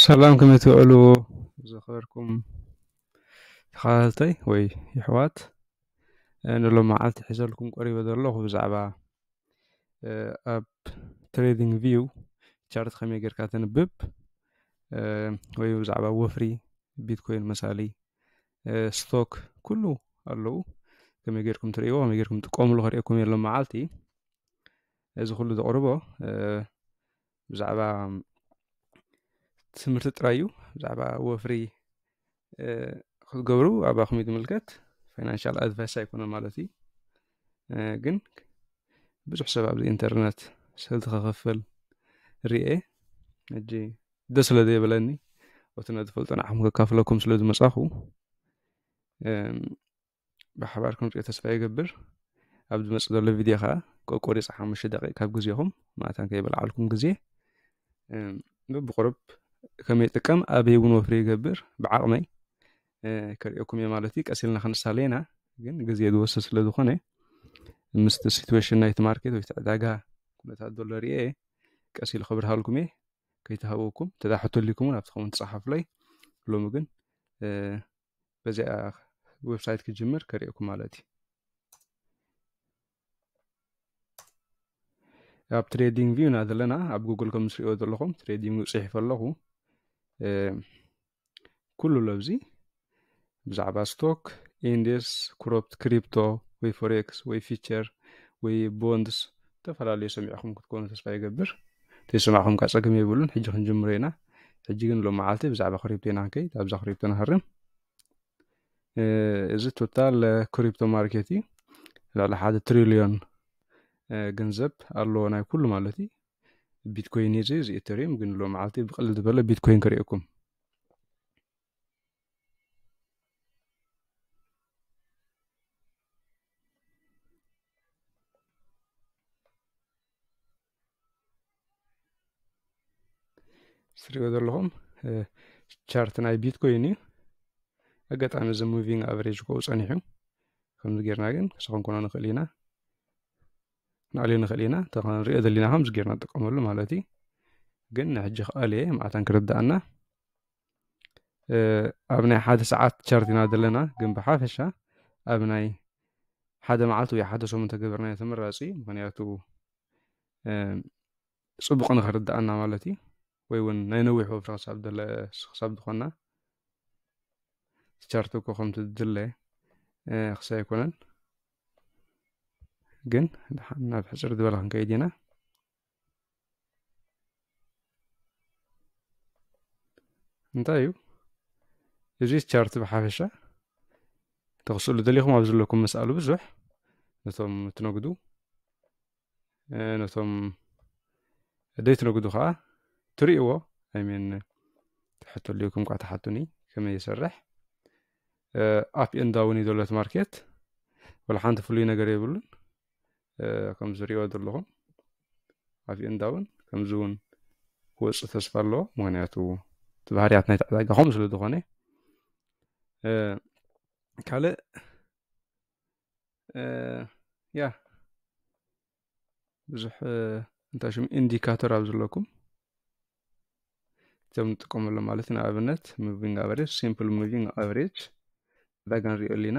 ሰላም ከመይ ትውዕሉ ዝኸበርኩም ተኸታተልተይ ወይ ይሕዋት ንሎ መዓልቲ ሒዘልኩም ቀሪበ ዘለኹ ብዛዕባ ኣብ ትሬዲንግ ቪው ቻርት ከመይ ጌርካ ተንብብ ወይ ብዛዕባ ወፍሪ ቢትኮይን መሳሊ ስቶክ ኩሉ ኣለዉ ከመይ ጌርኩም ትርእይዎ ከመይ ጌርኩም ትቆምሉ ከርእየኩም የሎ መዓልቲ እዚ ኩሉ ዘቕርቦ ብዛዕባ ትምህርቲ ጥራይ እዩ ብዛዕባ ወፍሪ ክትገብሩ ኣባኹም እዩ ዝምልከት ፋይናንሻል ኣድቫይስ ኣይኮነ ማለት እዩ ግን ብዙሕ ሰብ ኣብዚ ኢንተርነት ሰልቲ ከኸፍል ርኤ ሕጂ ደስ ስለ ዘይብለኒ እቲ ነዝፈልጦ ንዓኹም ከካፍለኩም ስለ ዝመፃኹ ብሓባር ክንሪኦ ተስፋ ይገብር ኣብ ዝመፅእ ዘሎ ቪድዮ ከዓ ቆቆሪፅ ሓሙሽተ ደቂቅ ካብ ግዜኹም ማእታን ከይበልዓልኩም ግዜ ብቁርብ ከመይ ጥቀም ኣበይ እውን ወፍሪ ይገብር ብዓቕመይ ከሪኦኩም እየ ማለት እዩ ቀስ ኢልና ክንሳለየና ግን ግዜ ዝወስድ ስለ ዝኾነ ምስቲ ሲትዌሽን ናይቲ ማርኬት ወይ ዕዳጋ ኩነታት ዘሎ ርኤ ቀስ ኢሉ ክብርሃልኩም እየ ከይተሃወኩም ተዳሕቶ ሊኩም እውን ኣብቲ ከውን ትፅሓፍለይ ሎሚ ግን በዚኣ ዌብሳይት ክጅምር ከርእየኩም ማለት እዩ ኣብ ትሬዲንግ ቪው ኢና ዘለና ኣብ ጉግል ከም ዝሪኦ ዘለኹም ትሬዲንግ ፅሒፈ ኣለኹ ኩሉ ለብዚ ብዛዕባ ስቶክ ኢንዴስ ክሮፕት ክሪፕቶ ወይ ፎሬክስ ወይ ፊቸር ወይ ቦንድስ ዝተፈላለዩ ሰሚዕኹም ክትኮኑ ተስፋ ይገብር ተይሰማዕኹም ካ ፀገም የብሉን ሕጂ ክንጅምሮ ኢና ሕጂ ግን ሎም መዓልቲ ብዛዕባ ክሪፕቶ ኢና ክንከይድ ኣብዛ ክሪፕቶ ንሃርም እዚ ቶታል ክሪፕቶ ማርኬት እዩ ልዕሊ ሓደ ትሪልዮን ገንዘብ ኣለዎ ናይ ኩሉ ማለት እዩ ቢትኮይን እዚ እዚ ኤተሪየም ግን ሎም መዓልቲ ብቅልል ዝበለ ቢትኮይን ክርእየኩም ስሪኦ ዘለኹም ቻርት ናይ ቢትኮይን እዩ ኣጋጣሚ እዚ ሙቪንግ ኣቨሬጅ ኮኡ ጸኒሑ ከምዚ ጌርና ግን ሰኸንኮኖ ንኽእል ኢና ንኣልዮ ንኽእል ኢና ተኸንሪኦ ዘለና ከምዚ ጌርና ንጥቀመሉ ማለት እዩ ግን ንሕጂ ክኣልየ ማዕታን ክርዳእና ኣብ ናይ ሓደ ሰዓት ቻርት ኢና ዘለና ግን ብሓፈሻ ኣብ ናይ ሓደ መዓልቲ ወይ ሓደ ሰሙን ተገበርናዮ ተመራፂ ምክንያቱ ፅቡቅ ንክርድኣና ማለት እዩ ወይ እውን ናይ ነዊሕ ወፍሪ ክሳብ ደለ ክሳብ ዝኾና ቻርት እኮ ከምቲ ድለ ክሳብ ኣይኮነን ግን ናብ ሕፅር ዝበለ ክንከይድ ኢና እንታይ እዩ እዚ ቻርት ብሓፈሻ ተኽስእሉ ደሊኹም ኣብ ዘለኩም መስኣሉ ብዙሕ ነቶም ትነግዱ ነቶም ደይ ትነግዱ ከዓ ትርእይዎ ኣይሜን ትሕቶ ልኩም ኳ ተሓቱኒ ከመይ ይሰርሕ ኣፕ ኤንዳውን እዩ ዘሎ ማርኬት ወላ ሓንቲ ፍሉይ ነገር የብሉን ከም ዝሪእዎ ዘለኹም ኣፍየ እንዳ እውን ከምዚ እውን ክወፅእ ተስፋ ኣለዎ ምክንያቱ እቲ ባህርያት ናይቲ ዕዳጋ ከምኡ ስለ ዝኾነ ካልእ ያ ብዙሕ እንታይ ሽሙ ኢንዲካተር ኣብ ዘለኩም እቶም ንጥቀመሉ ማለት ንኣብነት ሙቪንግ ኣቨሬጅ ሲምፕል ሙቪንግ ኣቨሬጅ ዕዳጋ ንሪኦ ኣለና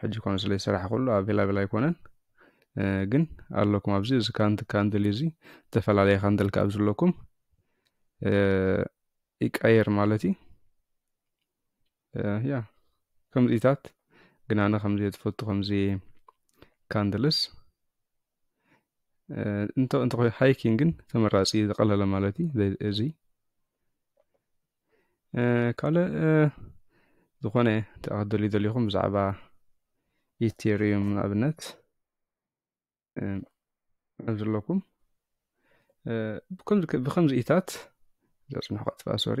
ሕጂ ኮን ስለ ዝሰራሕኩሉ ኣብ ሄላቤላ ኣይኮነን ግን ኣለኩም ኣብዚ እዚ ካንት ካንድል እዚ ዝተፈላለየ ካንድል ካብ ዝለኩም ይቀየር ማለት እዩ ያ ከምዚታት ግን ኣነ ከምዚ ትፈቱ ከምዚ ካንድልስ እንተ ሃይኪንግን ተመራፂ ዝቀለለ ማለት እዩ እዚ ካልእ ዝኾነ ተኣክደልዩ ዘልኹም ብዛዕባ ኢቴርዩም ንኣብነት ዘለኩም ብከምዚ ኢታት ዘፅንሑ ከጥፋ ሶሪ